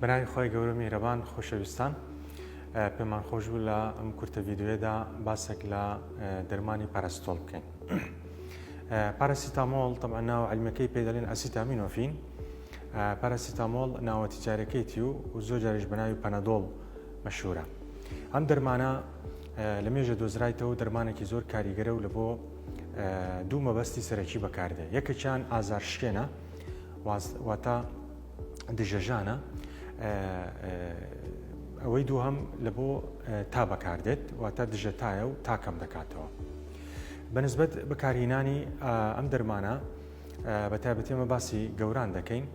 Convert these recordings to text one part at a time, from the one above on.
برای خوای گەورە میهرەبان خۆشەویستان پێمان خۆش بوو لە ئەم کورتە ڤیددیوێدا باسێک لە دەرمانی پەرستۆڵ بکەین پاراسیتامۆڵ طبعا ناو علمەکەی پێ دەڵێن ئەسیتامینۆفین پاراسیتامۆڵ ناوە تجارەکەیتی و زۆر جاریش بەناوی پەنەدۆڵ مەشورە ئەم دەرمانە لە مێژە دۆزرایتەوە دەرمانێکی زۆر کاریگەرە و لە بۆ دوو مەبەستی سەرەکی بەکاردێ یەکەکیان ئازار شکێنە واتە دژەژانە ئەوەی دووهم لە بۆ تا بەکاردێت واتە دژە تایە و تاکەم دەکاتەوە بەنسبەت بەکارهینانی ئەم دەرمانە بە تایبەتێمە باسی گەوران دەکەین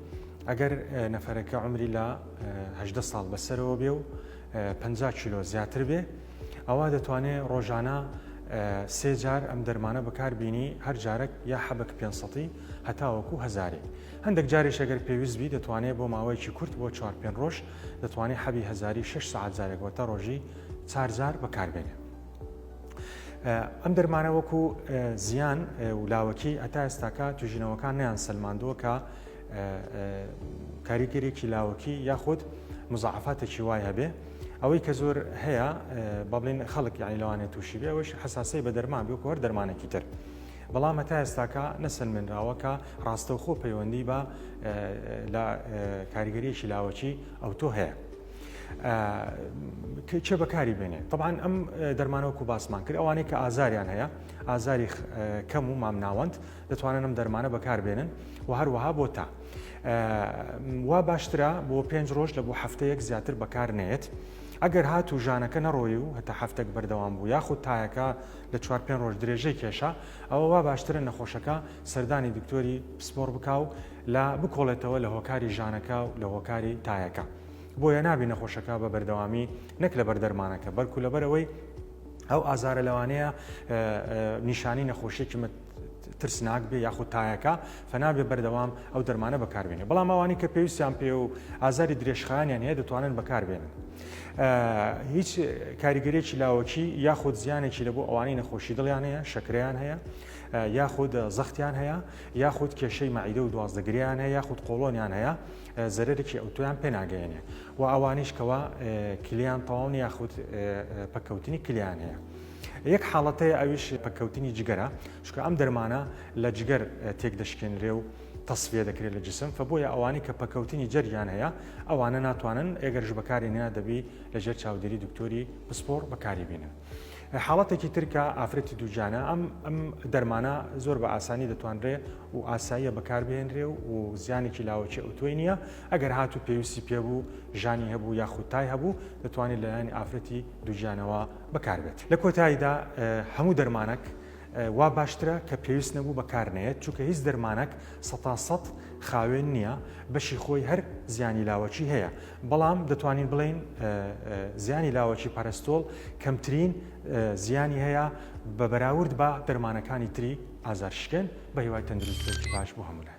ئەگەر نەفرەکە عمری لە هەدە ساڵ بەسەرەوە بێ و 50 کیلۆ زیاتر بێ ئەوە دەتوانێت ڕۆژانە سێ جار ئەم دەرمانە بەکاربیینی هەر جارێک یا حەبک پێسەی هەتاوەکو هزاری هەندەک جاریش ئەگەر پێویست بی دەتوانێ بۆ ماوەیەکی کورت بۆ چوار پێن ڕۆژ دەتوانێ حەبی هەزاری شەش سەعات جارێک وەتە ڕۆژی چار جار بەکار بێنێ. ئەم دەرمانە وەکو زیان و لاوەکی هەتا ئێستاکە توژینەوەکان نیان سەلماندووە کە کاریگەرێکی لاوەکی یاخود مزعفاتێکی وای هەبێ ئەوەی کە زۆر هەیە بەڵین خەڵک یانی لەوانێت تووشی بێ ئەوش حساسی بە دەرمان بێ کۆر دەرمانێکی تر بەڵام هەتا ئێستاکە نەسەلمێنراوە کە ڕاستەوخۆ پەیوەندی بە لە کاریگەریەکی لاوەکی ئەوتۆ هەیە. چێ بەکاری بێنێ طبعاان ئەم دەرمانەوەکو باسمان کرد ئەوانەی کە ئازاریان هەیە ئازاری کەم و مام ناوەند دەتوانن ئەم دەرمانە بەکار بێنن و هەروەها بۆ تا وا باشترە بۆ پێنج ڕۆژ لە بۆ هەفتەیەک زیاتر بەکار نێت ئەگەر هات و ژانەکە نەڕۆی و هەتا هەفتێک بەردەوام بوو یاخود تایەکە لە چوار پێنج ڕۆژ درێژەی کێشا، ئەوە وا باشترە نەخۆشەکە سەردانی دکتۆری پسپۆڕ بکا و لە بکۆڵێتەوە لە هۆکاری ژانەکە و لە هۆکاری تایەکە. بۆیە نابی نەخۆشەکە بە بەردەوامی نەک لەبەر دەرمانەکە بەلکو لەبەر ئەوەی ئەو ئازارە لەوانەیە نیشانی نەخۆشیەکی ترسناک بێ یاخود تایەکە فەنا بێ بەردەوام ئەو دەرمانە بەکاربێنێ بەڵام ئەوانی کە پێویستیان پێ و ئازاری درێژخانیان هەیە دەتوانن بەکاربێنن هیچ کاریگەرێکی لاوەکی یاخود زیانێکی لە بۆ ئەوانەی نەخۆشی دڵیان هەیە شەکریان هەیە یاخود زەختیان هەیە یاخود کێشەی مەعیدە و دوازدەگریان هەیە یاخود قۆڵۆنیان هەیە زەرەرێکی ئەوتۆیان پێناگەێنێ و ئەوانیش کەەوە کلیان تەواونی یاخود پەکەوتنی کلیان هەیە. یەک حاڵەت هەیە ئەویش پەککەوتنی جگەرە چونکە ئەم دەرمانە لە جگەر تێک دەشکێنرێ و تەسفیە دەکرێت لە جسم فبۆیە ئەوانەی کە پەکەوتنی جەرگیان هەیە ئەوانە ناتوانن ئێگەرش بەکاری نە دەبی لەژێر چاودێری دکتۆری پسپۆڕ بەکاری بینن. حاڵەتێکی ترکە ئافرەتی دووجانە ئەم ئەم دەرمانە زۆر بە ئاسانی دەتوانرێ و ئاساییە بەکاربهێنرێ و و زیانێکی لاوەکی ئەوتۆی نییە ئەگەر هاتوو پێویستی پێبوو ژانی هەبوو یاخود تای هەبوو دەتوانێت لەلایەن ئافرەتی دووجانەوە بەکار بێت لە کۆتاییدا هەموو دەرمانەک وا باشترە کە پێویست نەبوو بەکار نەیەت چونکە هیچ دەرمانەک سەتا سەد خاوێن نییە بەشی خۆی هەر زیانی لاوەکی هەیە بەڵام دەتوانین بڵین زیانی لاوەکی پەرستۆڵ کەمترین زیانی هەیە بە بەراورد بە دەرمانەکانی تری ئازار شکێن بە هیوای تەندروستێکی باش بۆ هەمولای